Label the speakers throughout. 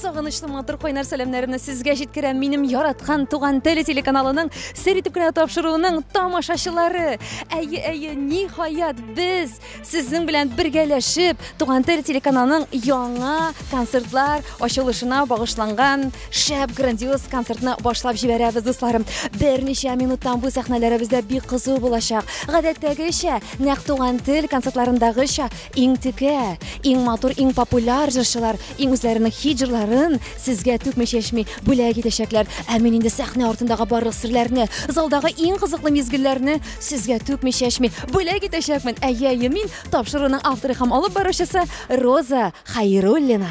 Speaker 1: Сагынычлы матур кайнар сәламнәремне сезгә җиткерәм минем яраткан туган теле телеканалының сер итеп кенә тапшыруының тамашачылары. Әйе, әйе, ни хаят без сезнең белән бергәләшеп туган теле телеканалының яңа концертлар ачылышына багышланган шәп грандиоз концертны башлап җибәрәбез, дусларым. Берничә минуттан бу сәхнәләребездә бик кызу булачак. Гадәттәгечә, нәкъ туган тел концертларындагыча Иң текә, иң матур, иң популяр җырчылар иң үзләренең хит җырларын сезгә түкми-чәчми бүләк итәчәкләр. Ә мин инде сәхнә артындагы барлык серләрне, залдагы иң кызыклы мизгелләрне сезгә түкми-чәчми бүләк итәчәкмен. Әйе, әйе, мин тапшыруның авторы һәм алып баручысы Роза Хәйруллина.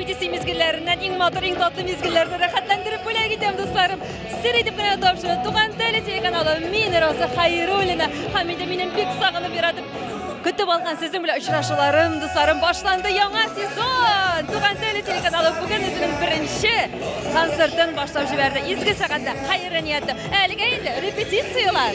Speaker 1: Дисей мизгелләреннән иң матур, иң татлы мизгелләрне рәхәтләндереп бүләк итәм, дусларым. Сер итеп кенә тапшыру. Туган тел телеканалы мин Роза Хәйруллина. Һәм инде минем бик сагынып яратып көтеп алган сезнең белән очрашуларым, дусларым, башланды яңа сезон. Туган тел телеканалы бүген үзенең беренче концертын башлап җибәрде. Изге сәгатьтә хәерле нияттә. Әлегә инде репетицияләр.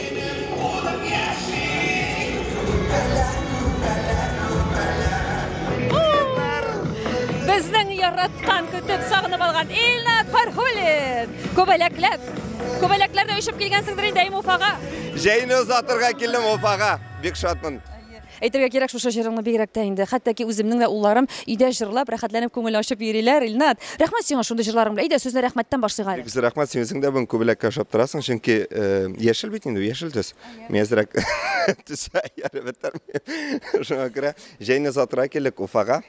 Speaker 1: Безнең яраткан, көтеп, сагынып алган Илнат Фархулин! Күбәләкләп! Күбәләкләрдә очып килгәнсеңдер инде әйме Уфага? Җәйне озатырга килдем Уфага. Бик шатмын. Әйтергә кирәк, шушы җырыңны бигрәк тә инде. Хәтта ки үземнең дә улларым өйдә җырлап, рәхәтләнеп күңел ачып йөриләр. Илнат, рәхмәт сиңа шундый җырларың белән. Әйдә, сүзне рәхмәттән башлыйк әле. Бик зур рәхмәт, син үзең дә бүген күбәләккә ошап торасың, чөнки э, яшел бит инде, яшел төс. Мин әзрәк төсә әле бетермим. Шуңа күрә Җәйне озатырга килдек Уфага.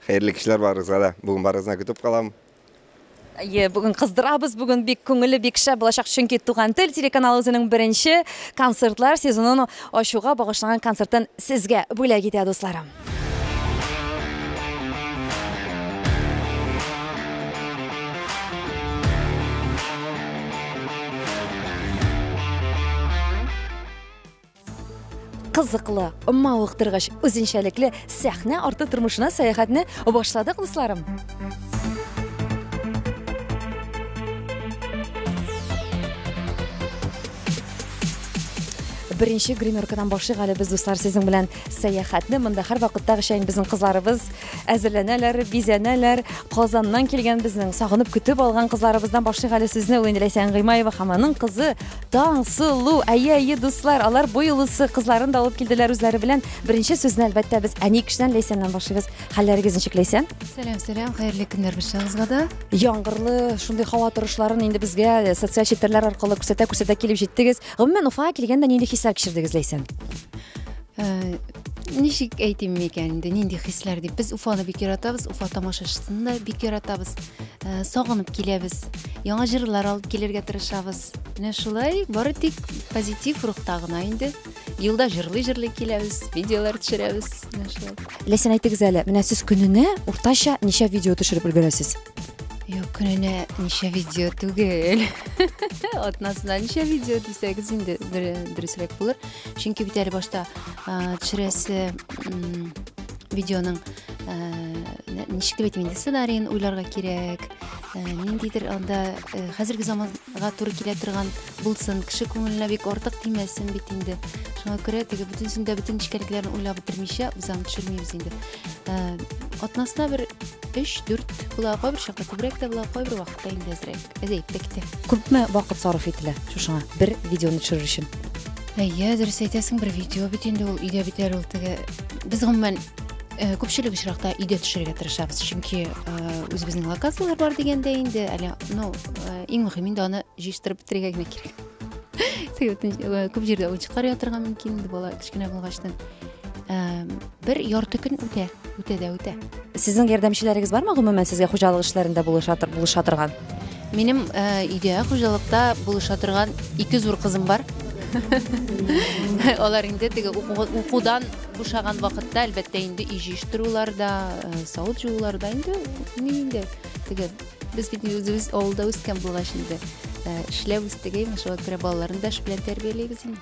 Speaker 1: Хәерле кичләр барыгызга да. Бүген барыгызны көтеп калам. Әйе, бүген кыздырабыз, бүген бик күңелле, бик шәп булачак, чөнки Туган тел телеканалы үзенең беренче концертлар сезонын ачуга багышланган концертын сезгә бүләк итә, дусларым. кызыклы, мавыктыргыч, үзенчәлекле сәхнә арты тормышына сәяхәтне башладык, дусларым. Беренче гримеркадан башлыйк әле без, дуслар, сезнең белән сәяхәтне. Монда һәр вакыттагыча инде безнең кызларыбыз әзерләнәләр, бизәнәләр. Казаннан килгән безнең сагынып көтеп алган кызларыбыздан башлыйк әле сүзне. Ул инде Ләйсән Гыймаева һәм аның кызы Таң, сылу, әйе, әйе, дуслар, алар бу юлысы кызларын да алып килделәр үзләре белән. Беренче сүзне әлбәттә без әни кешедән Ләйсәннән башлыйбыз. Хәлләрегез ничек Ләйсән? Сәлам, сәлам, хәерле көннәр барчагызга да. Яңгырлы шундый һава торышларын инде безгә э, социаль челтәрләр аркылы күрсәтә күрсәтә килеп җиттегез. Гомумән Уфага килгәндә нинди хисләр кичердегез Ләйсән? Э, ничек әйтим микән инде нинди хисләр дип без уфаны бик яратабыз уфа тамашачысын да бик яратабыз ә, сагынып киләбез яңа җырлар алып килергә тырышабыз менә шулай бары тик позитив рухта гына инде юлда җырлый җырлый киләбез видеолар төшерәбез менә шулай ләсән әйтегез әле менә сез көненә уртача ничә видео төшереп өлгерәсез юк көненә ничә видео түгел атнасына ничә видео дисәгез инде дөресрәк булыр чөнки бит әле башта төшерәсе видеоның ничек дип әйтим инде сценарийын уйларга кирәк ниндидер анда хәзерге заманга туры килә торган булсын кеше күңеленә бик артык тимәсен бит инде шуңа күрә теге бөтенесен дә бөтен нечкәлекләрен уйлап бетермичә без аны төшермибез инде атнасына бер өч дүрт була кайбер чакта күбрәк тә була кайбер вакыт Хакта инде әзрәк. Без әйттек тә. Күпме вакыт сарыф ителә шушыңа бер видеоны төшерер өчен? Әйе, дөрес әйтәсең, бер видео бит инде ул өйдә бит әле ул теге. Без гомумән э, күпчелек очракта өйдә төшерергә тырышабыз, чөнки э, үзебезнең локацияләр бар дигәндә инде әле, ну, э, иң мөһим инде аны җыештырып бетерергә генә кирәк. Сәгатен э, күп җирдә уенчыклар ятырга мөмкин инде бала кечкенә булгачтан. бер ярты көн үтә үтә дә үтә сезнең ярдәмчеләрегез бармы гомумән сезгә хуҗалык эшләрендә булыша булыша торган минем өйдә хуҗалыкта булыша торган ике зур кызым бар алар инде теге укудан бушаган вакытта әлбәттә инде өй җыештыруларда савыт жууларда инде ни инде теге без бит үзебез авылда үскән булгач инде эшләп үстек әйме шуңа күрә балаларны да эш белән тәрбиялибез инде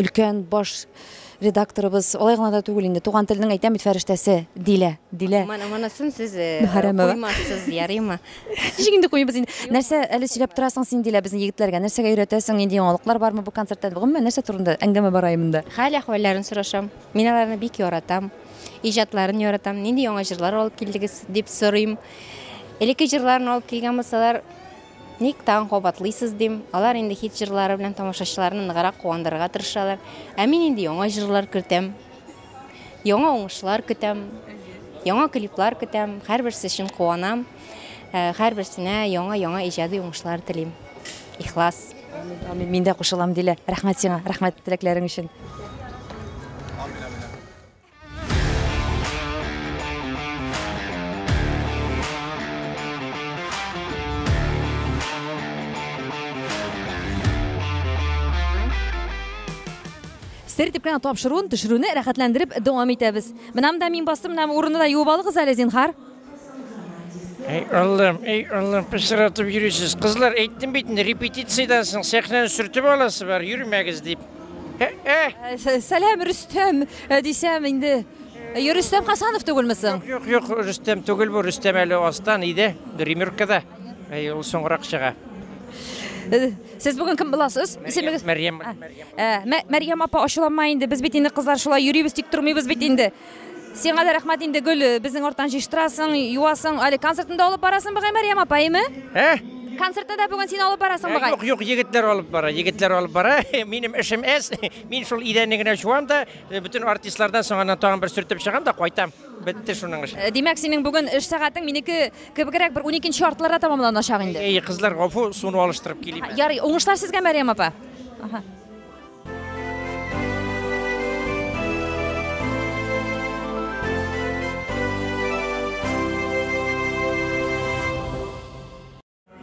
Speaker 1: өлкән баш редакторыбыз алай гына да түгел инде туган телнең әйтәм бит фәрештәсе дилә дилә монысын сез э, куймассыз ярыймы ничек инде куйбыз инде нәрсә әле сөйләп торасың син дилә безнең егетләргә нәрсәгә өйрәтәсең нинди яңалыклар бармы бу концерттан гомумән нәрсә турында әңгәмә бара монда хәл әхвәлләрен сорашам мин аларны бик яратам иҗатларын яратам нинди яңа җырлар алып килдегез дип сорыйм элекке җырларын алып килгән булсалар Ник тагын кабатлыйсыз, дим. Алар инде хит җырлары белән тамашачыларны ныграк куандырырга тырышалар. Ә мин инде яңа җырлар кертәм. Яңа уңышлар көтәм. Яңа клиплар көтәм. Һәрберсе өчен куанам. Э, һәрберсенә яңа-яңа иҗади уңышлар телим. Ихлас. Амин, мин дә кушылам, Дилә. Рәхмәт сиңа, рәхмәт теләкләрең өчен. Сер дип кенә тапшыруын, төшерүне рәхәтләндереп дәвам итәбез. Менә монда мин бастым, менә урынны да юып алыгыз әле, зинһар. Әй Аллам, әй Аллам, пычратып йөрисез. Кызлар, әйттем бит инде, репетициядән соң сәхнәне сөртеп аласы бар, йөрмәгез дип. Ә, ә! Ә, Сәлам, Рөстәм, ә, дисәм инде. Ә, Рөстәм Хасанов түгелме соң? Юк, юк, Рөстәм түгел бу, Рөстәм әле астан иде, гримеркада. Әй, ул соңрак чыга. Э, Сез бүген кем буласыз? Исемегез? Мәрьям, Мәрьям. Ә, Мә- Мәрьям апа ачуланма инде, без бит инде кызлар шулай йөрибез, тик тормыйбыз бит инде. Сиңа да рәхмәт инде гөл, безнең арттан җыштырасың, юасың, әле концертында алып барасың бугай Мәрьям апа, әйме? Ә? Концертта да бүген син алып барасың бугай. Юк, юк, егетләр алып бара, егетләр алып бара. Минем эшем әз. Мин шул идәнне генә җуам да, бөтен артистлардан соң аннан тагын бер сөртеп чыгам да кайтам. Бетте шуның эше. Димәк, синең бүген эш сәгатең минеке кебегрәк бер 12 артларда тәмамланачак инде. Әй, кызлар, гафу, суны алыштырып килим. Ярый, уңышлар сезгә, Мәрьям апа. Аһа.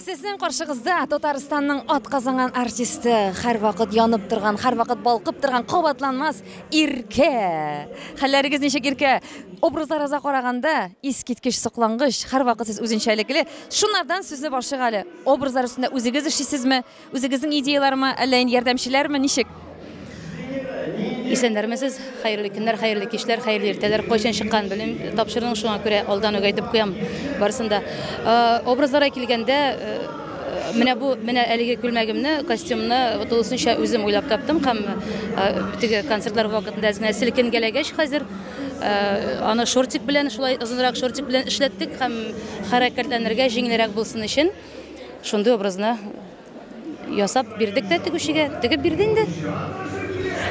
Speaker 1: Сезнең каршыгызда Татарстанның атказанган артисты, һәрвакыт янып торган, һәрвакыт балкып торган кабатланмас Иркә. Хәлләрегез ничек Иркә? Образларыгызга караганда искиткеч соклангыч, һәрвакыт сез үзенчәлекле. Шунардан сүзне башлыйк әле. Образлар өстендә үзегез эшлисезме? Үзегезнең идеялармы, әллә инде ярдәмчеләрме, ничек? Исәннәрмесез, хәерле көннәр, хәерле кичләр, хәерле иртәләр. Кайчан чыккан белем тапшырдың, шуңа күрә алдан үк әйтеп куям барысын да. Э, образларга килгәндә, э, менә бу менә әлеге күлмәгемне костюмны тулысынча үзем уйлап таптым һәм э, теге концертлар вакытында әз генә селкенгәләгәч хәзер э, аны шортик белән шулай озынрак шортик белән эшләттек һәм хәрәкәтләнергә җиңелрәк булсын өчен Шундый образны ясап бирдек тә тегүчегә, тегеп бирде инде.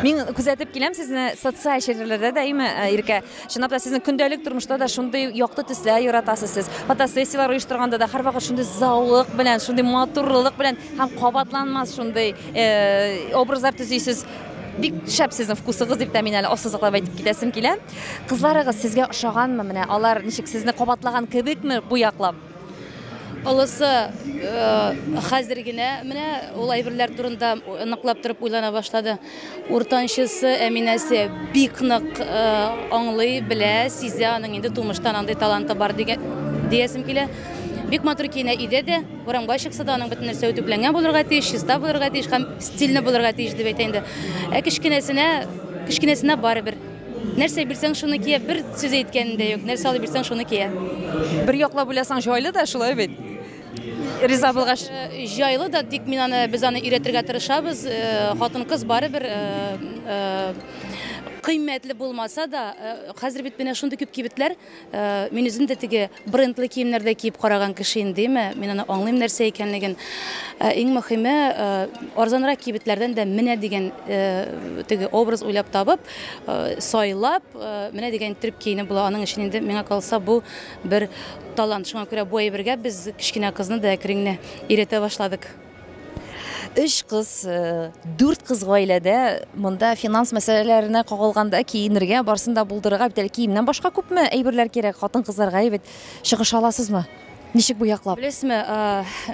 Speaker 1: Мин күзәтеп киләм сезне социаль челтәрләрдә даими, э, Иркә. Чынлап та сезнең көндәлек тормышта да шундый якты төсләр яратасыз сез. Фотосессияләр оештырганда да һәрвакыт шундый заулык белән, шундый матурлылык белән һәм кабатланмас шундый э, образлар төзисез. Бик шәп сезнең вкусыгыз дип тә мин әле ассызыклап әйтеп китәсем килә. Кызларыгыз сезгә ошаганмы? Менә алар ничек сезне кабатлаган кебекме бу яклап? Олысы хәзер генә менә ул әйберләр турында ныклап торып уйлана башлады. Уртанчысы Әминәсе бик нык аңлый, белә, сизә, аның инде тумыштан андый таланты бар диясем килә. Бик матур киенә өйдә дә, урамга чыкса да, аның бөтен нәрсә үтүкләнгән булырга тиеш, чиста булырга тиеш һәм стильле булырга тиеш дип әйтә инде. Ә кечкенәсенә, кечкенәсенә барыбер. Нәрсә бирсәң, шуны кия. Бер сүз әйткәнем дә юк. Нәрсә алып бирсәң, шуны кия. Бер яклап уйласаң, җайлы да, шулай бит. Риза булгач. Э, җайлы да, тик мин аны без аны өйрәтергә тырышабыз. Э, хатын-кыз барыбер э, кыйммәтле булмаса да, хәзер бит менә шундый күп кибетләр, Э, мин үзем дә теге брендлы киемнәр дә киеп караган кеше инде әйме мин аны аңлыйм нәрсә икәнлеген э, иң мөхиме э, арзанрак кибетләрдән дә менә дигән теге образ уйлап табып сайлап менә дигән иттереп киенеп була аның өчен инде миңа калса бу бер талант шуңа күрә бу әйбергә без кечкенә кызны да әкренне өйрәтә башладык Өч кыз, дүрт кыз гаиләдә монда финанс мәсьәләләренә кагылганда киенергә, барсын да булдырырга бит әле киемнән башка күпме әйберләр кирәк хатын-кызларга, әйбәт. Чыгыш аласызмы? Ничек бу яклап? Беләсезме,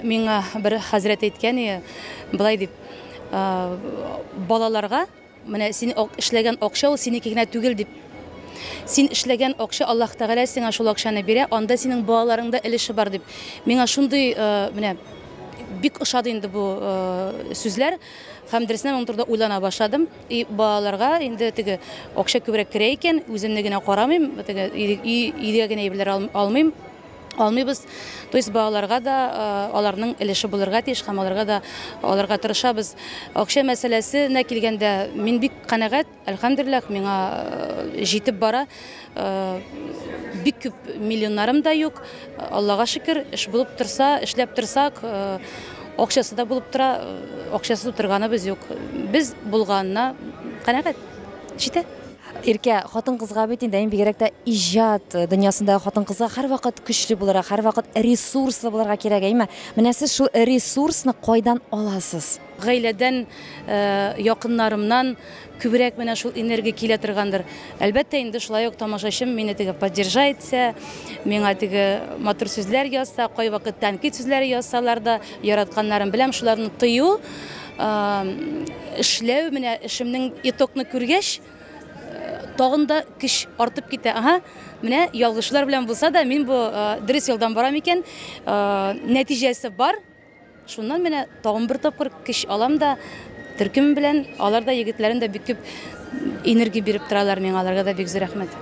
Speaker 1: миңа бер хәзрәт әйткән, болай дип, балаларга, Менә син эшләгән акча ул синеке генә түгел дип. Син эшләгән акча Аллаһ Тәгалә сиңа шул акчаны бирә, анда синең балаларың да өлеше бар дип. Миңа шундый менә бик ошады инде бу сүзләр. Һәм дөресенә моның турында уйлана башладым. И балаларга инде теге акча күбрәк керә икән, үземне генә карамыйм, теге өйгә генә әйберләр алмыйм. алмыйбыз. То есть балаларга да аларның өлеше булырга тиеш һәм аларга да аларга тырышабыз. Акча мәсьәләсенә килгәндә, мин бик канәгать, әлхәмдүлилләһ, миңа җитеп бара. Бик күп миллионнарым да юк. Аллага шөкер, эш булып торса, эшләп торсак, акчасы да булып тора, акчасыз утырганыбыз юк. Без булганына канәгать. Җитә. Иркә, хатын-кызга бит инде, әй, бигрәк тә иҗат дөньясындагы хатын-кызга һәрвакыт көчле булырга, һәрвакыт ресурслы булырга кирәк, әйме? Менә сез шул ресурсны кайдан аласыз? Гаиләдән, якыннарымнан күбрәк менә шул энергия килә торгандыр. Әлбәттә инде, шулай ук тамашачым мине теге поддержать итсә, миңа теге матур сүзләр язса, кайвакыт тәнкыйть сүзләре язсалар да, яратканнарым беләм, шуларны тою, Эшләү, менә эшемнең итогны күргәч, тагын да көч артып китә. Ага, менә ялгышлар белән булса да, мин бу дөрес юлдан барам икән, нәтиҗәсе бар. Шуннан менә тагын бер тапкыр көч алам да, төркем белән, алар да егетләрем дә бик күп энергия биреп торалар миңа, аларга да бик зур рәхмәт.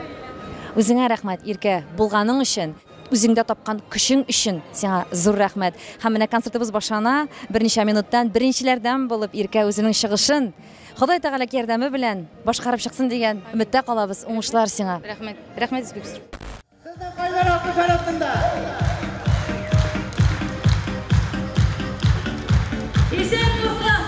Speaker 1: Үзеңә рәхмәт, Иркә, булганың өчен. Үзеңдә тапкан көчең өчен сиңа зур рәхмәт. Һәм менә концертыбыз башлана. Берничә минуттан беренчеләрдән булып Иркә үзенең чыгышын Ходай Тәгалә ярдәме белән башкарып чыксын дигән өметтә калабыз. Уңышлар сиңа. Рәхмәт. Рәхмәт бик зур. Сезнең кайнар алкыш арасында. Исән-саулык!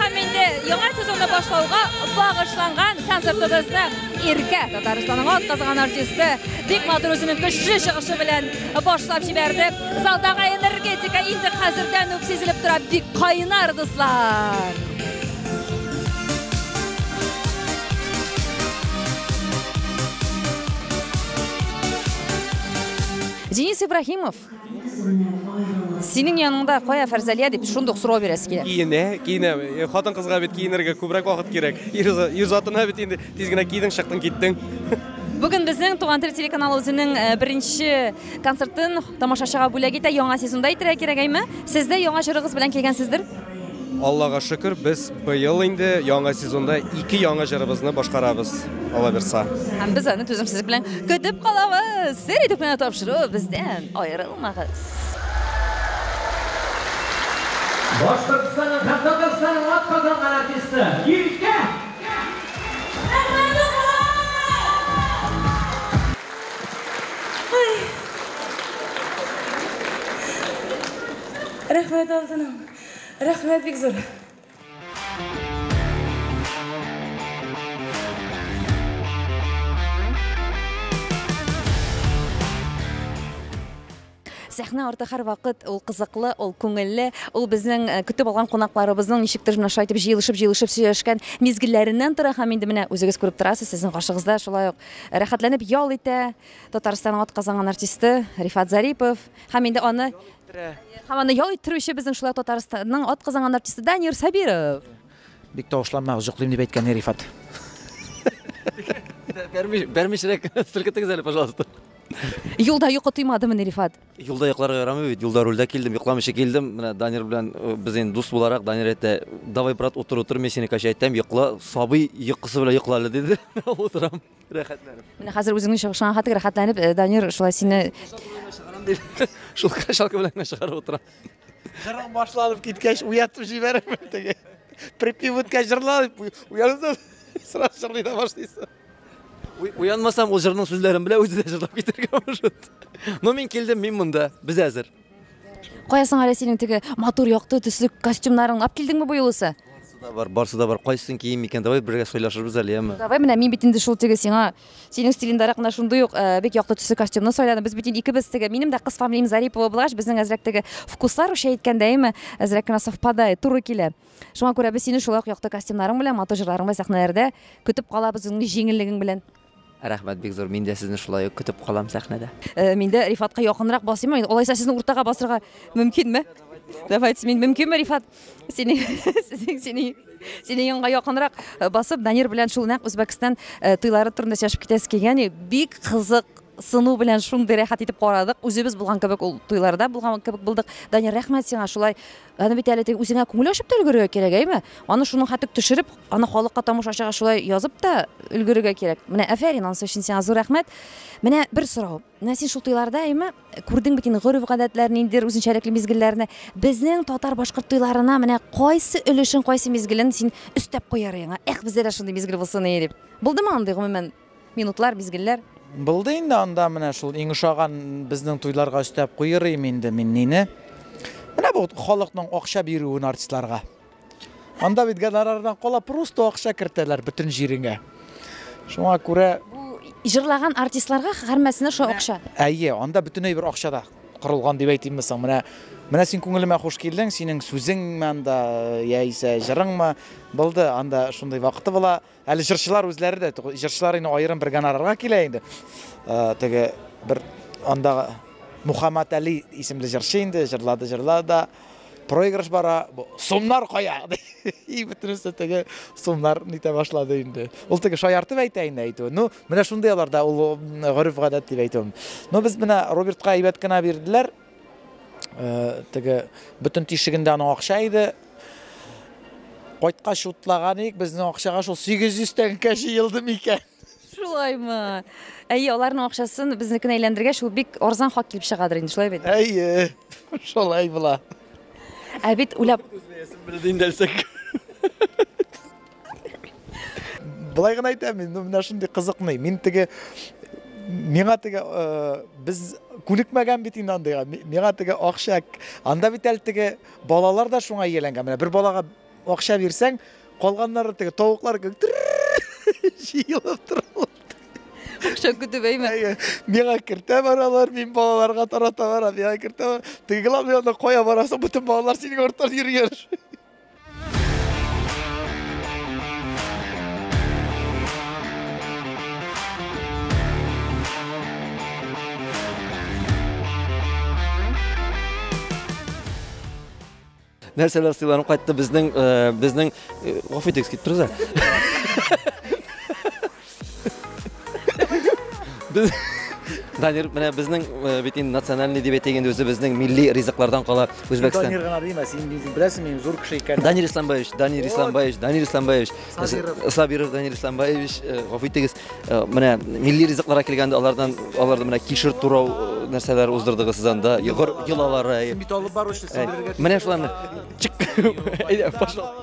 Speaker 1: Һәм инде яңа сезонны башлауга багышланган концертыбызны Иркә, Татарстанның атказган артисты, бик матур үзенең көчле чыгышы белән башлап җибәрде. Залдагы энергетика инде хәзердән үк сизелеп тора, бик кайнар дуслар. Денис Ибраһимов Синең яныңда кая Фәрзәлия дип шундук сорау бирәсе килә. Киенә, киенә. Э, хатын-кызга бит киенергә күбрәк вакыт кирәк. Ир затына бит инде тиз генә кидең, чыктың, киттең. Бүген безнең Туган тел телеканалы үзенең э, беренче концертын тамашачыга бүләк итә. Яңа сезонда әйтергә кирәк, әйме? Сез дә яңа җырыгыз белән килгәнсездер? Аллага шөкер, без быел инде яңа сезонда ике яңа җырыбызны башкарабыз, алабирса. Һәм без аны түземсезлек белән көтеп калабыз! Сер итеп кенә тапшыру бездән! Аерылмагыз! Башкортстанның һәм Татарстанның атказанган артисты Иркә Әхмәдуллина! Рәхмәт, алтыным! Рәхмәт бик зур! Сәхнә арты һәрвакыт ул кызыклы, ул күңелле, ул безнең э, көтеп алган кунакларыбызның ничектер менә шулай итеп җыелышып-җыелышып сөйләшкән мизгелләреннән тора һәм инде менә үзегез күреп торасыз, сезнең каршыгыз да шулай ук рәхәтләнеп ял итә. Татарстанның атказанган артисты Рифат Зарипов. Һәм инде аны Һәм аны ял иттерүче безнең шулай Татарстанның ат казанган артисты Данир Сабиров. Бик тавышланма, җоклыйм дип әйткән Рифат. Бәрмиш, бәрмишрәк селкетегез әле, пожалуйста. Юлда йокы тыймадымыни, Рифат? Юлда йокларга ярамый бит. Юлда рульдә килдем, йокламыйча килдем. Менә Данир белән э, без инде дус буларак, Данир әйтә, "Давай, брат, утыр, утыр, мин сине качайтам, йокла, сабый йокысы белән йокла әле", диде. Утырам. рәхәтләнеп. Менә хәзер үзеңне чыгышыңа хәтле рәхәтләнеп э, Данир шулай сине Шул качалка белән генә чыгарып утыра. Җырың башланып киткәч, уятып җибәрәм теге. Припев үткәч җырла дип уянсаң, сразу җырлый да башлыйсың. Уянмасам, ул җырның сүзләрен белә, үзе дә җырлап китәргә может. Но мин килдем, мин монда. Без әзер. Кая соң әле синең теге матур якты төсле костюмнарың? Ап килдеңме бу юлысы? Да бар, барсы да бар. Кайсын кием икән? Давай бергә сайлашырбыз әле, яме. Давай менә мин бит инде шул теге сиңа синең стилендәрәк менә шундый ук э, бик якты төсле костюмны сайладым. Без бит инде икебез теге минем дә кыз фамилиям Зарипова булгач, безнең әзрәк теге вкуслар үчә әйткәндә, яме, әзрәк кенә совпадает, туры килә. Шуңа күрә без сине шулай ук якты костюмнарың белән, матур җырларың белән сәхнәләрдә көтеп калабыз үзеңнең җиңеллегең белән. Рәхмәт бик зур, мин дә сезне шулай ук көтеп калам сәхнәдә. Мин дә Рифатка якынрак басыйм, алайса сезне уртага басырга мөмкинме? Давайте, мин мөмкинме, Рифат? Сине, сине, сине, сине янга якынрак э, басып, Данир белән шул нәкъ Үзбәкстан э, туйлары турында сөйләшеп китәсе килгән. Бик кызык сыну белән шундый рәхәт итеп карадык. Үзебез булган кебек ул туйларда булган кебек булдык. Данир, рәхмәт сиңа шулай Аны бит әле теге үзеңә күңел ачып та өлгерергә кирәк, әйме? Аны шуның хәтлек төшереп, аны халыкка тамашачыга шулай язып та өлгерергә кирәк. Менә әфәрин, анысы өчен сиңа зур рәхмәт. Менә бер сорау. Менә син шул туйларда, әйме, күрдең бит инде гореф-гадәтләрне, ниндидер үзенчәлекле мизгелләрне. Безнең татар-башкорт туйларына менә кайсы өлешен, кайсы мизгелен син өстәп куяр идең? Эх, бездә дә шундый мизгел булсын ие дип. Булдымы андый, гомумән, Минутлар, мизгелләр. Булды инде анда менә шул иң ошаган безнең туйларга өстәп куерыйм инде мин нине. Менә бу халыкның акча бирүен артистларга. Анда бит гонорардан кала просто акча кертәләр бөтен җиреңә. Шуңа күрә җырлаган артистларга һәрмәсенә шул акча. Әйе, анда бөтенләй бер акча да корылган дип әйтимме соң. Менә менә син күңелемә хуш килдең, синең сүзеңме анда яисә җырыңмы булды, анда шундый вакыты була. Әле җырчылар үзләре дә, җырчылар инде аерым бер гонорарга килә инде. Э, теге бер анда Мухаммад Али исемле җырчы инде җырлады, җырлады да проигрыш бара, сумнар кая? И бөтенесе теге сумнар нитә башлады инде. Ул теге шаяртып әйтә инде әйтү. Ну, менә шундый аларда ул гореф-гадәт дип әйтүем. Но без менә Робертка әйбәт кенә бирделәр, Теге бөтен тишегендә аның акча иде. Кайткач утлаган ик, безнең акчага шул 800 тәңкә җыелды микән? Шулаймы? Әйе, аларның акчасын безнекенә әйләндергәч, ул бик арзан хак килеп чыгадыр инде, шулай бит? Әйе, шулай була. Ә бит уйлап... Күзләясем белде инде әлсәк. Былай гына әйтәм, ну менә шундый кызыкный. Мин теге миңа теге э, без күнекмәгән бит инде андыйга. Миңа теге акча анда бит әле теге балалар да шуңа ияләнгән. Менә бер балага акча бирсәң, калганнары теге тавыклар җыелып торалар. Акча көтүбәйме? Миңа кертә баралар, мин балаларга тарата барам. Миңа кертә. Теге главное, кая барасың, бөтен балалар синең арттан йөргән. нәрсәләр сыйланып кайтты безнең э, безнең э, гафу итегез китеп торыгыз Без Данир, менә безнең э, бит инде национальный дип әйтик инде үзебезнең милли ризыклардан кала Үзбәкстан. Данир гына димә, син бит беләсең мин зур кеше икән. Данир Исламбаевич, Данир Исламбаевич, Данир Исламбаевич. Сабиров. Э, Сабиров Данир Исламбаевич, э, гафу итегез. Э, Менә милли ризыкларга килгәндә алардан аларда менә кишер турау э, нәрсәләр уздырдыгыз сез анда. Йогыр йолалары. Син бит алып баручы, син Э, белергә Менә шуларны. Чык. Әйдә, пошла.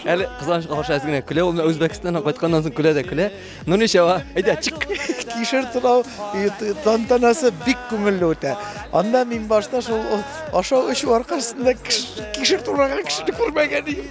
Speaker 1: Әле кызганычка каршы әз генә көлә, ул менә Үзбәкстаннан кайтканнан соң көлә дә көлә. Ну ничего, әйдә, чик. Кишер тулау тантанасы бик күңелле үтә. Анда мин башта шул ашау эчү аркасында кишер тураган кешене күрмәгән идем.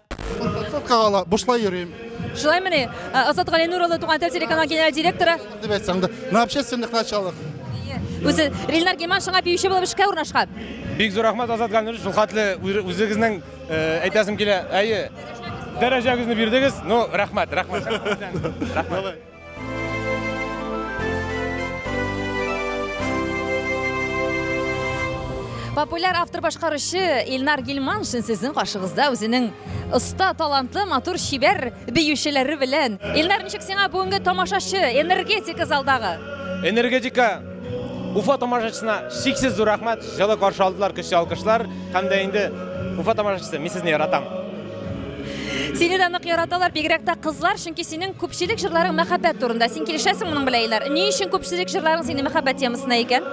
Speaker 1: Подсобкага ла бушлай йөрим. Шулай мени? Э, Азат Галинур улы Туган тел телеканалы генераль директоры. Дип әйтсәң дә, на общественных началах. Үзе Рилнар Гиман шуңа биюче булып эшкә урнашкан. Бик зур рәхмәт Азат Галинур шул хәтле үзегезнең э, әйтәсем килә. Әйе. Дәрәҗәгезне бирдегез. Ну, рәхмәт, рәхмәт. Рәхмәт. Популяр автор башкаручы Илнар Гилманшин сезнең каршыгызда үзенең оста, талантлы, матур, чибәр биючеләре белән. Илнар, ничек сиңа бүгенге тамашачы, энергетика залдагы? Энергетика Уфа тамашачысына шиксез зур рәхмәт, җылы каршы алдылар, көчле алкышлар һәм дә инде Уфа тамашачысы, мин сезне яратам. Сине дә нык яраталар, бигрәк тә кызлар, чөнки синең күпчелек җырларың мәхәббәт турында. Син килешәсең моның белән, Илнар? Ни өчен күпчелек җырларың синең мәхәббәт темасына икән?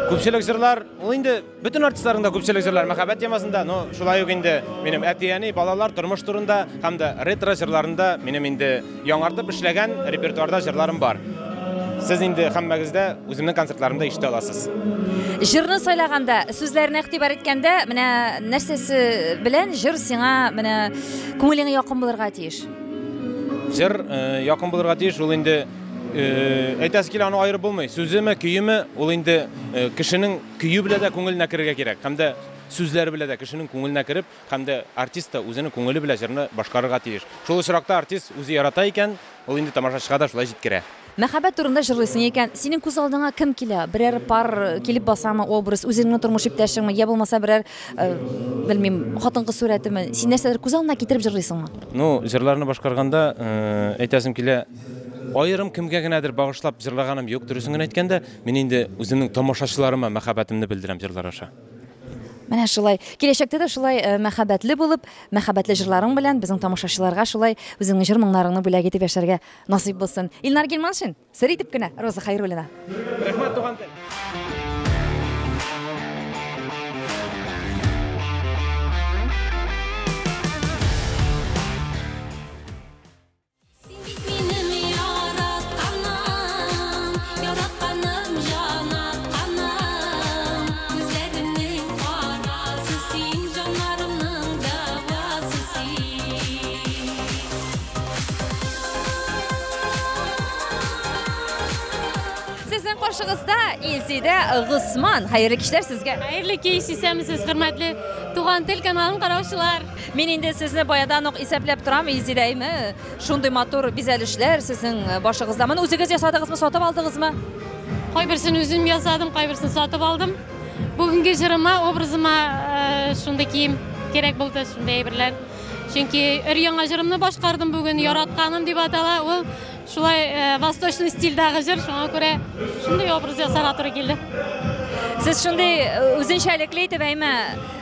Speaker 1: Күпчелек җырлар, ул инде бөтен артистларның да күпчелек җырлары мәхәббәт темасында, но шулай ук инде минем әти-әни, балалар, тормыш турында һәм дә ретро җырларында минем инде Яңартып эшләгән репертуарда җырларым бар. Сез инде һәммәгездә үземнең концертларымда ишетә аласыз. Җырны сайлаганда, сүзләренә игътибар иткәндә, менә нәрсәсе белән җыр сиңа менә күңелеңә якын булырга тиеш? Җыр э, якын булырга тиеш, ул инде э, әйтәсе килә, аны аерып булмый. Сүземе, көеме, ул инде э, кешенең көе белән дә күңеленә керергә кирәк. Һәм дә сүзләре белән дә кешенең күңеленә кереп, Һәм дә артист та үзенең күңеле белән җырны башкарырга тиеш. Шул очракта артист үзе ярата икән, ул инде тамашачыга да шулай җиткерә. Мәхәббәт турында җырлыйсың икән, синең күз алдыңа кем килә? Берәр пар килеп басамы, образ, үзеңнең тормыш иптәшеңме, йә булмаса берәр, белмим, хатын-кыз сурәтеме? Син нәрсәдер күз алдына китереп җырлыйсыңмы? Ну, җырларны башкарганда, әйтәсем килә, аерым кемгә генәдер багышлап җырлаганым юк. Дөресен генә әйткәндә, мин инде үземнең тамашачыларыма мәхәббәтемне белдерәм җырлар аша. Менә шулай. Киләчәктә дә шулай э, мәхәббәтле булып, мәхәббәтле җырларың белән безнең тамашачыларга шулай үзеңнең җыр моңнарыңны бүләк итеп яшәргә насыйп булсын. Илнар Гилманшин, сер итеп кенә Роза Хайруллина. Рәхмәт, туган тел. Каршыгызда Илсидә Госман. Хәерле кичләр сезгә. Хәерле кич, исәнмесез, хөрмәтле Туган тел каналын караучылар. Мин инде сезне баядан ук исәпләп торам, Изиләйме? Шундый матур бизәлешләр сезнең э, башыгызда. Моны үзегез ясадыгызмы, сатып алдыгызмы? Кайберсен үзем ясадым, кайберсен сатып алдым. Бүгенге җырыма, образыма э, шундый кием кирәк булды, шундый әйберләр. Чөнки өр яңа җырымны башкардым бүген, яратканым дип атала. Ул шулай э, восточный стильдәге җыр, шуңа күрә шундый образ ясарга туры килде. Сез шундый э, үзенчәлекле итеп әйме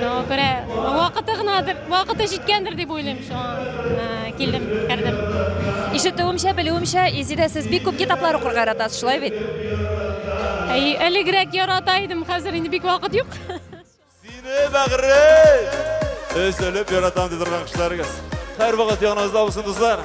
Speaker 1: Шуңа күрә вакыты гынадыр, вакыты җиткәндер дип уйлыйм. Шуңа килдем, кердем. Ишетүемчә, белүемчә, Изидә сез бик күп китаплар укырга яратасыз, шулай бит? Әй, элегрәк ярата идем, хәзер инде бик вакыт юк. Сине, бәгырем! Өзелеп яратам, дип торган кешеләрегез. Һәрвакыт яныбызда булсын, дуслар!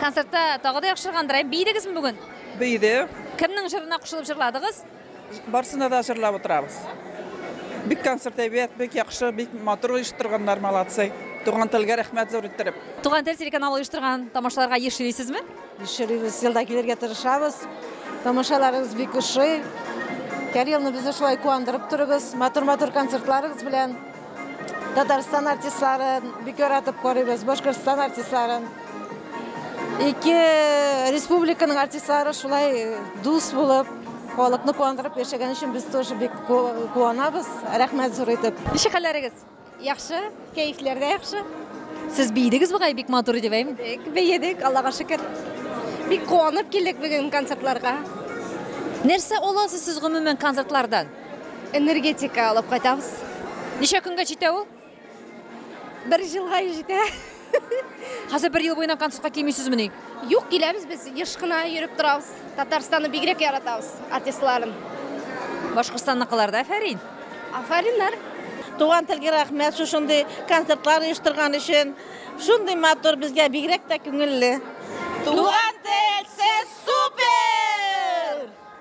Speaker 1: Концертта тагы да яхшыргандыр, ә бийдегезме бүген? Бийде. Кемнең җырына кушылып җырладыгыз? Барсына да җырлап утырабыз. Бик концерт әйбәт, бик яхшы, бик матур оештырганнар, молодцы. Туган телгә рәхмәт зур иттереп. Туган тел телеканалы оештырган тамашаларга еш йөрисезме? Еш йөрибез, елда килергә тырышабыз. Тамашаларыгыз бик ошый. Һәр елны безне шулай куандырып торыгыз, матур-матур концертларыгыз белән. Татарстан артистларын бик яратып карыйбыз, Башкортстан артистларын. Ике республиканың артистлары шулай дус булып, халыкны куандырып яшәгән өчен без тоже бик куанабыз. Рәхмәт зур итеп. Ничек хәлләрегез? Яхшы, кәефләр дә яхшы. Сез бийдегез бугай бик матур дип әйм. Бейдек, Аллага шөкер. Бик куанып килдек бүген концертларга. Нәрсә аласыз сез гомумән концертлардан? Энергетика алып кайтабыз. Ничә көнгә җитә ул? Бер җылга җитә. Хәзер бер ел буена концертка килмисезмени? Юк, киләбез без, еш кына йөреп торабыз. Татарстанны бигрәк яратабыз, артистларын. Башкортстанныкылар да афәрин. Афәриннәр. Туган телгә рәхмәт шушындый концертлар оештырган өчен. Шундый матур безгә бигрәк тә күңелле. Туган тел, сез супер!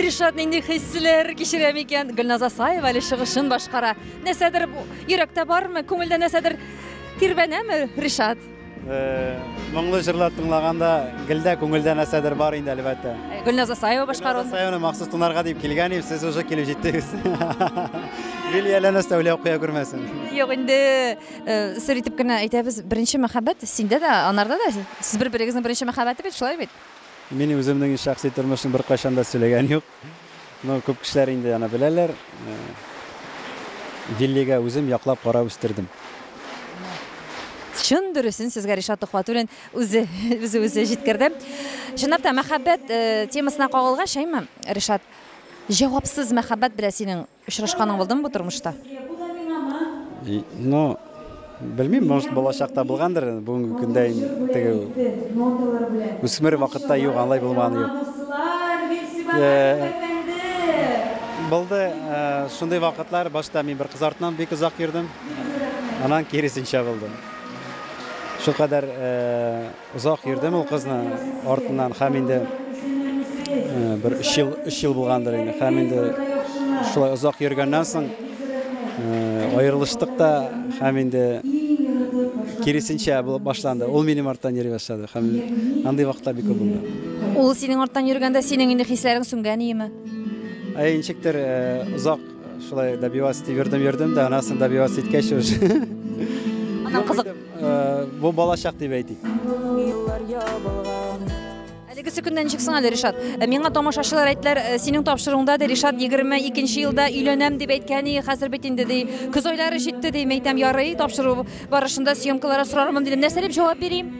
Speaker 1: Ришат нинди хисләр кичерә микән? Гөлназ Асаева әле чыгышын башкара. Нәрсәдер йөрәктә бармы? Күңелдә нәрсәдер тирбәнәме, Ришат? Э, моңлы җырлар тыңлаганда гелдә күңелдә нәрсәдер бар инде әлбәттә э, гөлназ асаева башкару гөлназ асаеваны махсус тыңларга дип килгән идем сез уже килеп җиттегез гел ияләнә сәүлә куя күрмәсен юк инде э, сер итеп кенә әйтәбез беренче мәхәббәт синдә дә анарда да сез бер берегезнең беренче мәхәббәте бит шулай бит Мин үземнең шәхси тормышны беркайчан да сөйләгән юк. Ну, күп кешеләр инде аны беләләр. Виллига үзем яклап карап үстердем. Чын дөресен сезгә Ришат Тухватуллин үзе үзе үзе җиткерде. Чынлап та мәхәббәт темасына кагылгач, әйме, Ришат, җавапсыз мәхәббәт белән синең Очрашканың булдымы бу тормышта? И, ну, белмим, может, балачакта булгандыр, бүгенге көндә ин, теге, үсмер вакытта юк, анлай булмаганы юк. Э, булды, э, шундый вакытлар, башта мин бер кыз артыннан бик озак йөрдем, аннан киресенчә булды. Шулкадәр, э, Озак йөрдем ул кызны артыннан һәм инде бер өч ел, өч ел булгандыр инде. Һәм инде шулай озак йөргәннән соң аерылыштык та һәм инде киресенчә булып башланды. Ул минем арттан йөри башлады һәм андый вакытлар бик күп булды. Ул синең арттан йөргәндә синең инде хисләрең сүнгән иеме? Ә ничектер озак шулай добиваться итеп йөрдем, йөрдем дә, аннан соң добиваться иткәч уже. Аннан кызык Бу балачак дип әйтик. Юллар ябылган. Әлеге сөкеннән ничек соң әле Ришат? Э, миңа тамашачылар әйттеләр, э, синең тапшыруыңда ди Ришат 22 елда өйләнәм дип әйткән и, хәзер бит инде ди. Көз айлары җитте ди, мәйтәм ярый, тапшыру барышында съемкалары сорармын дидем. Нәрсә дип җавап бирим?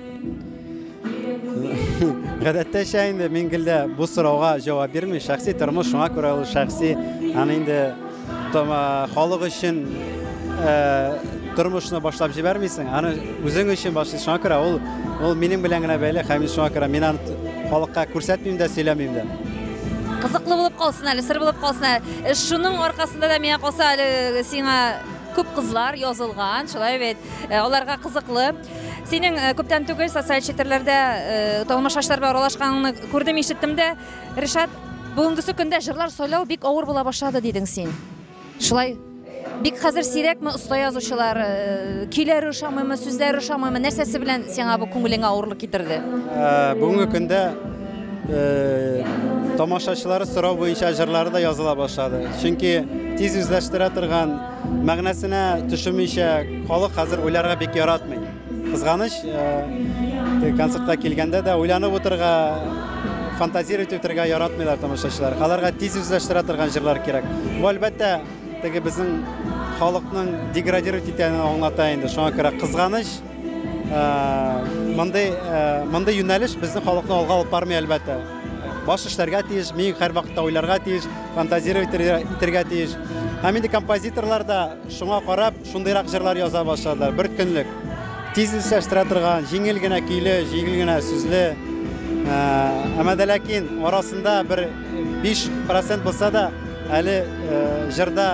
Speaker 1: Гадәттәчә инде мин гелдә бу сорауга җавап бирми. Шәхси тормыш шуңа күрә ул шәхси. Аны инде халык өчен э, тормышны башлап җибәрмисең. Аны үзең өчен башлый. Шуңа күрә ул ул минем белән генә бәйле. Һәм шуңа күрә мин аны халыкка күрсәтмим дә, сөйләмим дә. Кызыклы булып калсын әле, сыр булып калсын әле. Э, шуның аркасында да миңа калса әле сиңа күп кызлар язылган, шулай бит. Э, аларга кызыклы. Синең э, күптән түгел социаль челтәрләрдә э, танылмыш шашлар белән аралашканыңны күрдем, ишеттем дә. Ришат, бүгенгесе көндә җырлар сайлау бик авыр була башлады дидең син. Шулай бик хәзер сирәкме оста язучылар, э, көйләре ошамыймы, сүзләре ошамыймы, нәрсәсе белән сиңа бу күңелеңә авырлык китерде? Ә, Бүгенге көндә э, тамашачылары сорау буенча җырлары да языла башлады. Чөнки тиз үзләштерә торган Мәгънәсенә төшемичә халык хәзер уйларга бик яратмый. Кызганыч, э, концертка килгәндә дә уйланып утырга, фантазировать итәргә яратмыйлар тамашачылар. Аларга тиз үзләштерә торган җырлар кирәк. Бу әлбәттә теге безнең халыкның деградировать итәнен аңлата инде. Шуңа күрә кызганыч, Мондый мондый юнәлеш безнең халыкны алга алып бармый әлбәттә. Баш эшләргә тиеш, мин һәрвакытта уйларга тиеш, фантазировать итәргә тиеш. Һәм инде композиторлар да шуңа карап шундыйрак җырлар яза башладылар. Бер көнлек тиз исләштерә торган, җиңел генә көйле, җиңел генә сүзле. Әмма дә ләкин арасында бер 5% булса да әле җырда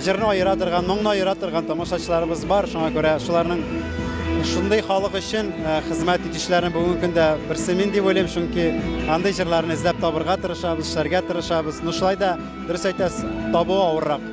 Speaker 1: Җырны аера торган, моңны аера торган тамашачыларыбыз бар, шуңа күрә шуларның шундый халык өчен хезмәт итүчеләрнең бүгенге көндә берсе мин дип уйлыйм, чөнки андый җырларны эзләп табырга тырышабыз, эшләргә тырышабыз. Ну шулай да, дөрес әйтәсез, табу авыррак.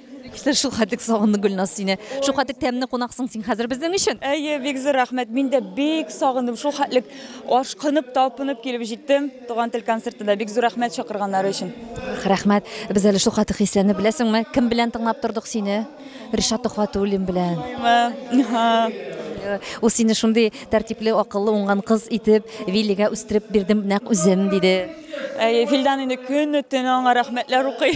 Speaker 1: Кисер шул хәтлек сагынды Гөлназ сине. Шул хәтлек тәмле кунаксың син хәзер безнең өчен. Әйе, бик зур рәхмәт. Мин дә бик сагындым. Шул хәтлек ашкынып, талпынып килеп җиттем. Туган тел концертына бик зур рәхмәт чакырганнары өчен. Рәхмәт. Без әле шул хәтлек хисләнеп беләсеңме? Кем белән тыңлап тордык сине? Ришат Төхвәтуллин белән. Ул сине шундый тәртипле, акыллы, уңган кыз итеп, Виллигә үстереп бирдем нәкъ үзем, диде. Әйе, Филдан инде көне-төне аңа рәхмәтләр укый.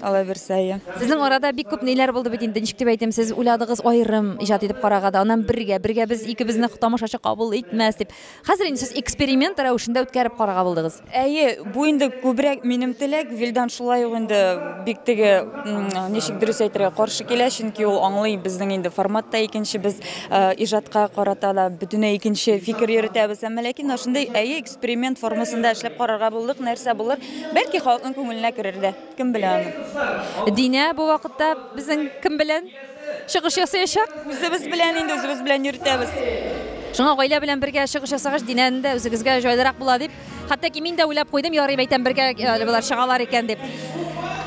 Speaker 1: Алаберсәе. Сезнең арада бик күп ниләр булды бит инде, ничек дип әйтим, сез уйладыгыз аерым иҗат итеп карага да, аннан бергә, бергә без икебезне тамашачы кабул итмәс дип. Хәзер инде сез эксперимент рәвешендә үткәреп карага булдыгыз. Әйе, бу инде күбрәк минем теләк, Вилдан шулай ук инде бик теге, ничек дөрес әйтергә, каршы килә, чөнки ул аңлый, безнең инде формат та икенче, без иҗатка карата да бөтенләй икенче фикер йөртәбез, әмма ләкин менә шундый, әйе, Эксперимент формасында эшләп карарга булдык, нәрсә булыр. Бәлки халыкның күңеленә керер дә, кем белә аны. Динә бу вакытта безнең кем белән чыгыш ясаячак? Үзебез белән инде, үзебез белән йөртәбез. Шуңа гаилә белән бергә чыгыш ясагач, Динәне дә үзегезгә җайлырак була дип, хәтта ки мин дә уйлап куйдым, ярый мәйтәм, бергә әле болар чыгалар икән дип.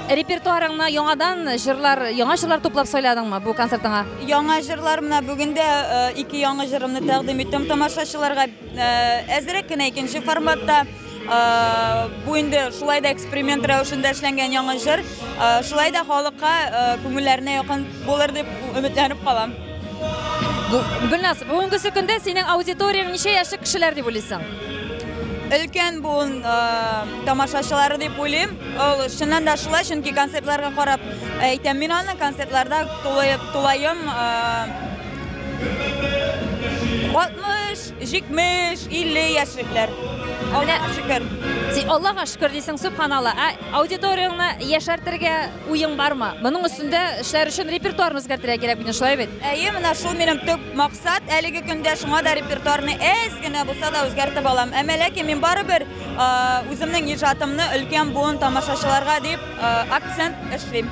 Speaker 1: Репертуарыңны яңадан җырлар, яңа җырлар туплап сайладыңмы бу концертыңа? Яңа җырлар, менә бүген дә ике яңа җырымны тәкъдим иттем тамашачыларга. Әзерәк кенә икенче форматта. Бу инде шулай да эксперимент рәвешендә эшләнгән яңа җыр. Шулай да халыкка күңелләренә якын булыр дип өметләнеп калам. Гөлназ, бүгенге көндә синең аудиторияң ничә яшьлек кешеләр дип уйлыйсың? Өлкән буын тамашачылары дип уйлыйм. Ул чыннан да шулай, чөнки концертларга карап әйтәм мин аны. Концертларда тулаем 60, 70, 50 яшьлекләр. Менә шөкер. Син Аллага шөкер дисең, субханалла. Ә аудиторияңне яшәртергә уең бармы? Моның өстендә эшләр өчен репертуарны үзгәртергә кирәк бит, шулай бит? Әйе, менә шул минем төп максат әлеге көндә, шуңа да репертуарны әз генә булса да үзгәртеп алам. Әмма ләкин мин барыбер үземнең иҗатымны өлкән буын тамашачыларга дип акцент эшлим.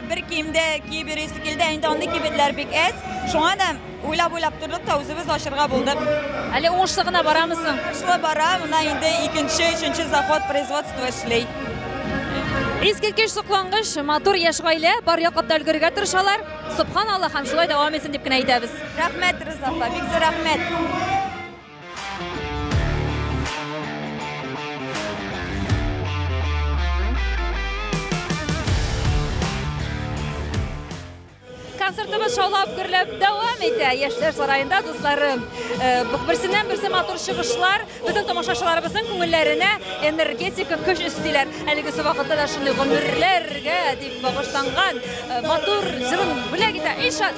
Speaker 1: Бер кимдә кибери сикилдә инде андый кибетләр бик әз. Шуңа да уйлап-уйлап тордык та үзебез ачырга булдык. Әле уңышлы гына барамы соң? Уңышлы бара, менә инде икенче, өченче заход производство эшли. Искиткеч соклангыч, матур яшь гаилә, бар яклап та өлгерергә тырышалар. Сөбханаллаһ һәм шулай дәвам итсен дип кенә әйтәбез. Рәхмәт, Риза апа, бик зур рәхмәт. Концертыбыз шаулап гөрләп дәвам итә. Яшьләр сараенда дусларым. Э, берсеннән берсе матур чыгышлар безнең тамашачыларыбызның күңелләренә энергетика көч өстиләр. Әлеге вакытта да шундый гомерләргә дип багышланган э, матур җырын бүләк итә. Ишат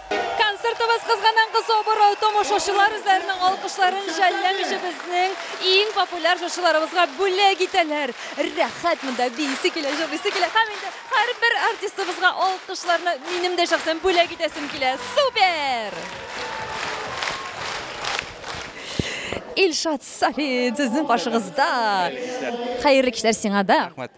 Speaker 1: Концертыбыз кызганан-кыз соборы томошачылар үзләренең алкышларын жәлләмичә безнең иң популяр җырчыларыбызга бүләк итәләр. Рәхәт монда биисе килә, җырлыйсы килә һәм инде һәрбер артистыбызга алкышларны минем дә шәхсән бүләк итәсем килә. Супер! Илшат Сафин сезнең каршыгызда. Хәерле кичләр сиңа да. Рәхмәт.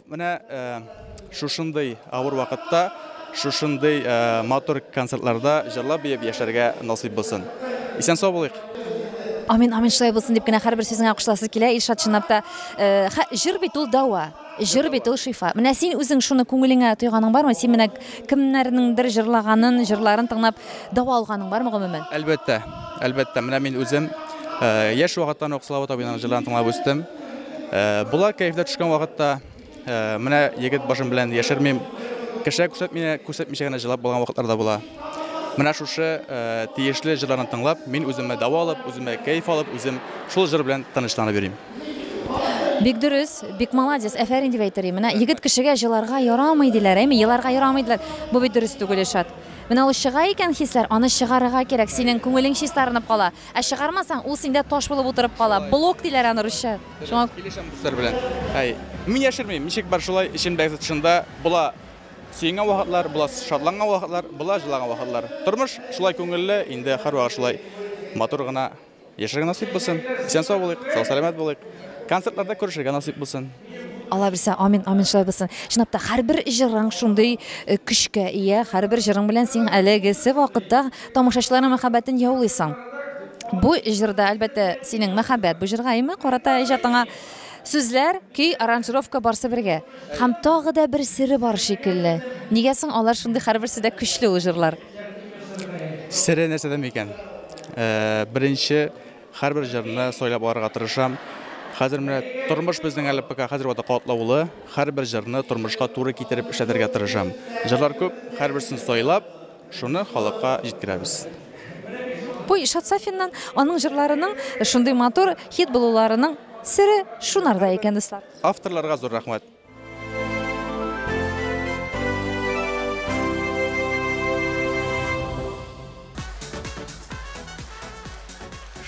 Speaker 1: Менә шушындый авыр вакытта, шушындый матур концертларда җырлап биеп яшәргә насыйп булсын. Исән сау булыйк! Амин, амин, шулай булсын дип кенә һәрбер сүзеңә кушыласы килә, Илшат, чынлап та. Э, хә, җыр бит ул дәва, җыр бит ул шифа. Менә син үзең шуны күңелеңә тойганың бармы? Син менә кемнәрнеңдер җырлаганын, җырларын тыңлап дәва алганың бармы гомумән? Әлбәттә, әлбәттә, менә мин үзем э, яшь вакыттан ук Слава Табинаның җырларын тыңлап үстем. Э, болар кәефләр төшкән вакытта э, менә егет башым белән яшермим кешегә күрсәтмичә күрсәтмичә генә җырлап булган вакытлар да була менә шушы э, тиешле җырларны тыңлап мин үземә дәва алып үземә кәеф алып үзем шул җыр белән тынычланып йөрим Бик дөрес, бик молодец, әфәрин дип әйтер идем. Менә егет кешегә җыларга ярамый диләр, әйме, еларга ярамый диләр. Бу бит дөрес түгел, Ишат. Менә ул чыга икән хисләр, аны чыгарырга кирәк. Синең күңелең чистарынып кала. Ә чыгармасаң, ул синдә таш булып утырып кала. Блок диләр аны русча. Шуңа. Килешәм дуслар белән. Әй. Мин яшермим, ничек бар шулай, эчемдәге тотышында була сөенгән вакытлар, була шатланган вакытлар, була җылаган вакытлар. Тормыш шулай күңелле, инде һәрвакыт шулай матур гына яшәргә насыйп булсын. Исән-сау булыйк, сау-сәламәт булыйк. Концертларда күрешергә насыйп булсын. Алла бирсә, амин, амин шулай булсын. Чынлап та һәрбер җырың шундый э, көчкә ия, һәрбер җырың белән син әлегесе вакытта тамашачыларның мәхәббәтен яулыйсың. Бу җырда әлбәттә синең мәхәббәт бу җырга имә карата иҗатыңа сүзләр, көй, аранжировка барсы бергә. Һәм тагы да бер сире бар шикелле. Нигә соң алар шундый һәрберсе дә көчле ул җырлар? Сире нәрсәдә микән? Э, беренче Һәрбер җырны сайлап алырга тырышам. Хәзер менә тормыш безнең әле пока хәзер вакытта катлаулы. Һәрбер җырны тормышка туры китереп эшләтергә тырышам. Җырлар күп, һәрберсен сайлап, шуны халыкка җиткерәбез. Бу Илшат Сафиннан, аның җырларының шундый матур хит булуларының сере шунарда икән, дуслар. Авторларга зур рәхмәт.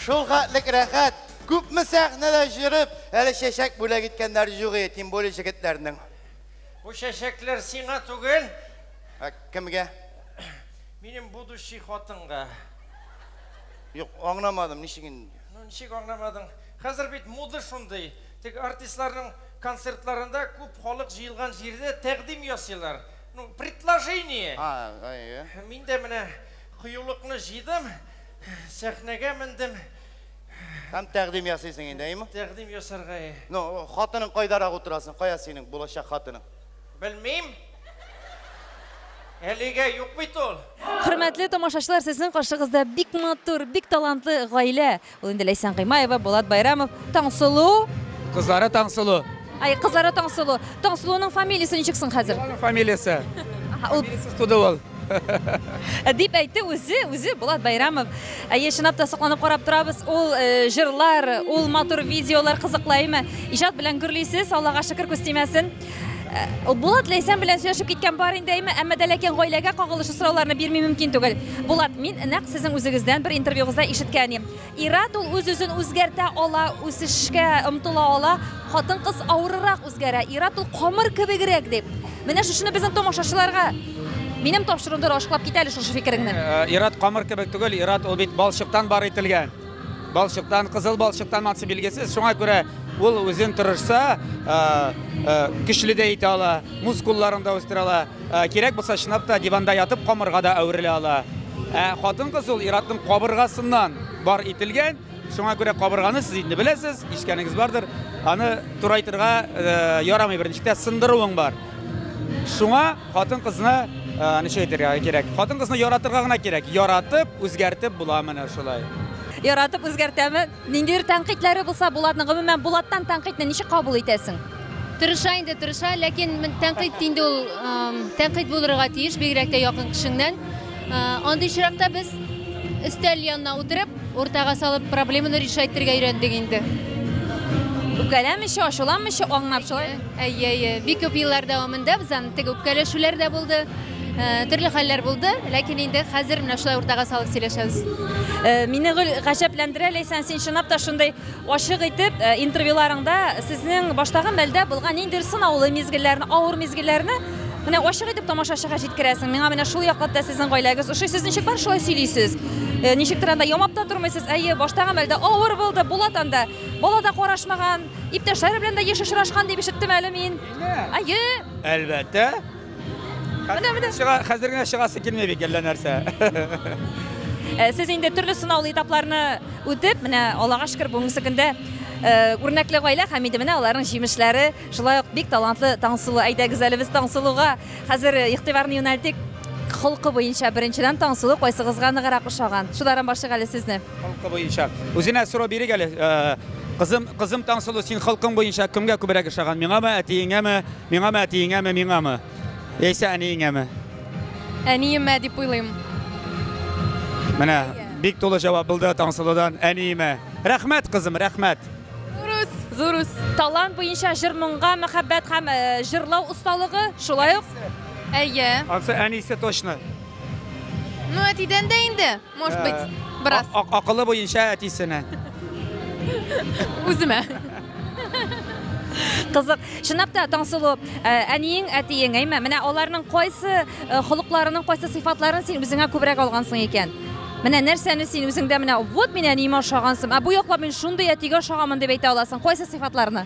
Speaker 1: Шул хәтлек рәхәт, күпме сәхнәдә җырып, әле чәчәк бүләк иткәннәр юк иде, тем более җегетләрнең. Бу чәчәкләр сиңа түгел. Ә кемгә? Минем будущий хатынга. Юк, аңламадым, ничек инде? Ну, ничек аңламадың? Хәзер бит мода шундый. Теге артистларның концертларында күп халык җыелган җирдә тәкъдим ясыйлар. Ну, предложение! А, әйе. Мин дә менә кыюлыкны җыйдым, сәхнәгә мендем. Һәм тәкъдим ясыйсың инде, әйеме? Тәкъдим ясарга, әйе. Ну, хатының кайдарак утыра соң? Кая синең булачак хатының? Белмим. Әлегә юк бит ул. Хөрмәтле тамашачылар, сезнең каршыгызда бик матур, бик талантлы гаилә. Ул инде Ләйсән Гыймаева, Булат Байрамов, Таңсылу. Кызлары Таңсылу. Ай, кызлары Таңсылу. Таңсылуның фамилиясе ничек соң хәзер? Аның фамилиясе. Ул туды ул. Э, дип әйтте үзе, үзе Булат Байрамов. Әйе, чынлап та сокланып карап торабыз. Ул э, җырлар, ул матур видеолар кызыклаймы? Иҗат белән гөрлисез, Аллага шөкер күз тимәсен. Булат Ләйсән белән сөйләшеп киткән бар инде әйме, әмма дә ләкин гаиләгә кагылышлы сорауларны бирми мөмкин түгел. Булат, мин нәкъ сезнең үзегездән бер интервьюгызда ишеткән идем. Ират ул үз-үзен үзгәртә ала, үсешкә омтыла ала, хатын-кыз авырырак үзгәрә. Ират ул камыр кебегрәк дип. Менә шушыны безнең томашачыларга минем тапшыруымда ачыклап кит әле шушы фикереңне. Э, Ират камыр кебек түгел, Ират ул бит балчыктан бар ителгән. Балчыктан, кызыл балчыктан матчы билгесе, шуңа күрә ул үзен тырышса, көчле дә итә ала, мускулларын да үстерә ала, кирәк булса чынлап та диванда ятып камырга да әверелә ала. Ә хатын-кыз ул ир-атның кабыргасыннан бар ителгән, шуңа күрә кабырганы сез инде беләсез, ишкәнегез бардыр, аны турайтырга ярамый берничек тә сындыруың бар. Шуңа Хатын-кызны ничек әйтергә кирәк? Хатын-кызны яратырга гына кирәк. Яратып, үзгәртеп була менә шулай. Яратып үзгәртәме? Ниндидер тәнкыйтьләре булса, Булатның гомумән Булаттан тәнкыйтьне ничек кабул итәсең? Тырыша инде, тырыша, ләкин тәнкыйть инде ул тәнкыйть булырга тиеш, бигрәк тә якын кешеңнән. Андый чиракта без өстәл янына утырып, уртага салып проблеманы решать итәргә өйрәндек инде. Үпкәләмичә, ачуланмичә, аңнап шулай. Әйе, әйе. Бик күп еллар дәвамында без аны теге үпкәләшүләр дә булды. Э, төрле хәлләр булды, ләкин инде хәзер менә шулай уртага салып сөйләшәбез. Э, мине гел гаҗәпләндерә, Ләйсән, син чынлап та шундый Ачык итеп, интервьюларыңда сезнең баштагы мәлдә булган ниндидер сынаулы мизгелләрне, авыр мизгелләрне менә ачык итеп тамашачыга җиткерәсең. Миңа менә шул яклатта сезнең гаиләгез ошый. Сез ничек бар шулай сөйлисез? Э, ничектер анда ямап та тормыйсыз. Әйе, баштагы мәлдә авыр булды, булат анда. Бала да карашмаган, иптәшләре белән дә еш очрашкан дип ишеттем әле мин. Әйе. Әлбәттә. Менә, менә. Чыга, хәзер генә чыгасы килми бик әллә нәрсә. Э, сез инде төрле сынаулы этапларны үтеп, менә Аллага шөкер, бүгенге көндә э, үрнәкле гаилә һәм инде менә аларның җимешләре, шулай ук бик талантлы Таңсылу. Әйдәгез әле без Таңсылуга хәзер э, игътибарны юнәлтик. Холкы буенча беренчедән Таңсылу кайсыгызга ныграк ошаган? Шулардан башлыйк әле сезне. Холкы буенча. Үзенә сорау бирик әле. Э, Кызым, кызым Таңсылу, син холкың буенча кемгә күбрәк ошаган? Миңамы, әтиеңәме? Миңамы, әтиеңәме, миңамы? Яисә әниеңәме? Әниемә дип уйлыйм. Менә бик тулы җавап булды Таңсылудан әниемә. Рәхмәт, кызым, рәхмәт. Зурус, зурус. Талант буенча җыр-моңга мәхәббәт һәм э, җырлау осталыгы, шулай ук. Әйе. Ансы әнисе точно. Ну, әтидән дә инде. Может быть, бераз. Акылы буенча әтисенә. Үземә. Кызык. Чынлап та Таңсылу, э, әниең, әтиең, әйме? Менә аларның кайсы э, холыкларының кайсы сыйфатларын син үзеңә күбрәк алгансың икән? Менә нәрсәне син үзеңдә менә вот мин әниемә ошагансым, ә бу яклап мин шундый әтигә ошаганмын дип әйтә аласың. Кайсы сыйфатларны?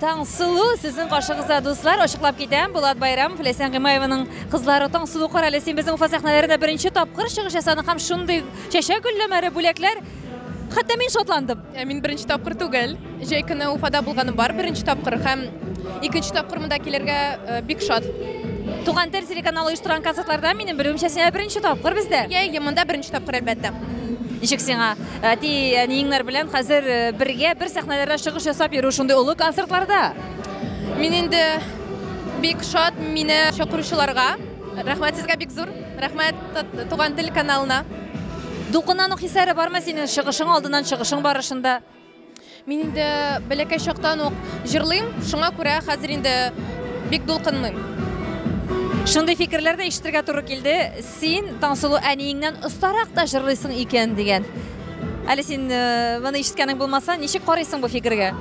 Speaker 1: Таңсылу сезнең каршыгызда дуслар, ачыклап китәм, Булат Байрам, Флесен Гимаеваның кызлары Таңсылу карале, син безнең Уфа сәхнәләрендә беренче тапкыр чыгыш ясадың һәм шундый чәчәк гөлләмәләре, бүләкләр. Хәтта мин шатландым. Ә мин беренче тапкыр түгел. Җәй көне Уфада булганым бар беренче тапкыр һәм икенче тапкыр монда килергә э, бик шат. Туган тел телеканалы оештырган концертларда минем белүемчә син беренче тапкыр бездә. Йә, йә, монда беренче тапкыр әлбәттә. Ничек сиңа әти әниеңнәр белән хәзер э, бергә бер сәхнәләрдә чыгыш ясап йөрү шундый олы концертларда? Мин инде бик шат мине чакыручыларга. Рәхмәт сезгә бик зур. Рәхмәт Туган тел каналына. Дулкыннан ук хисләре бармы синең чыгышың алдыннан, чыгышың барышында? Мин инде бәләкәй чактан ук җырлыйм, шуңа күрә хәзер инде бик дулкынмыйм. Шундый фикерләр дә ишетергә туры килде. Син Таңсылу әниеңнән остарак та җырлыйсың икән дигән. Әле син моны ишеткәнең булмаса, ничек карыйсың бу фикергә?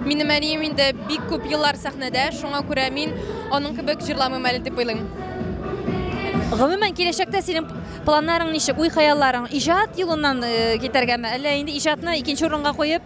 Speaker 1: Минем әнием инде бик күп еллар сәхнәдә, шуңа күрә мин аның кебек җырламыйм әле дип уйлыйм. Гомумән киләчәктә синең планнарың ничек, уй-хыялларың иҗат юлыннан китәргәме, әллә инде иҗатны икенче урынга куеп,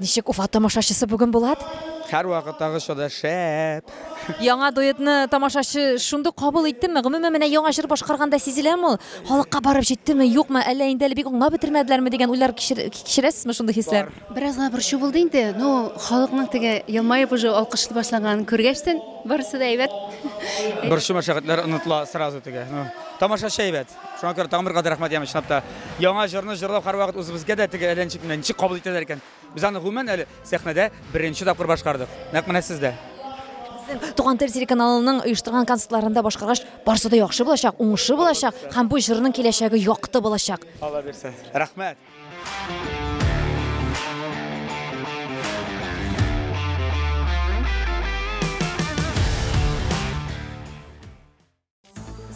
Speaker 1: Ничек Уфа тамашачысы бүген Булат? Һәрвакыттагыча да шәп! Яңа дуэтны тамашачы шундук кабул иттеме? Гомумән, менә яңа җыр башкарганда сизеләме ул? Халыкка барып җиттеме, юкмы, әллә инде әле бик аңлап бетермәделәрме дигән уйлар кичерәсезме шундый хисләр? Бераз гына борчу булды инде, ну, халыкның теге елмаеп уже алкышлый башлаганын күргәчтен, барысы да әйбәт. Борчу-мәшәкатьләр онытыла сразу теге. Тамашачы әйбәт. Шуңа күрә тагын бер кат рәхмәт яме чынлап та. Яңа җырны җырлау һәрвакыт үзебезгә дә теге әллә ничек менә ничек кабул итәләр икән. Без аны гомумән әле сәхнәдә беренче тапкыр башкардык. Нәкъ менә сез дә. Туган тел телеканалының оештырган концертларында башкаргач, барысы да яхшы булачак, уңышлы булачак һәм бу җырның киләчәге якты булачак. Алла бирсә. Рәхмәт.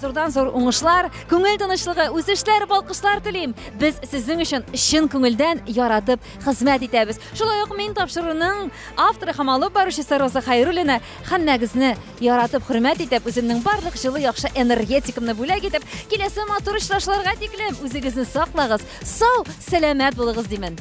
Speaker 1: Зурдан зур уңышлар, күңел тынычлыгы, үсешләр, балкышлар телим. Без сезнең өчен чын күңелдән яратып хезмәт итәбез. Шулай ук мин тапшыруның авторы һәм алып баручысы Роза Хайруллина һәммәгезне яратып хөрмәт итеп, үземнең барлык җылы яхшы энергетикамны бүләк итеп, киләсе матур очрашуларга тиклем үзегезне саклагыз, сау, сәламәт булыгыз димен.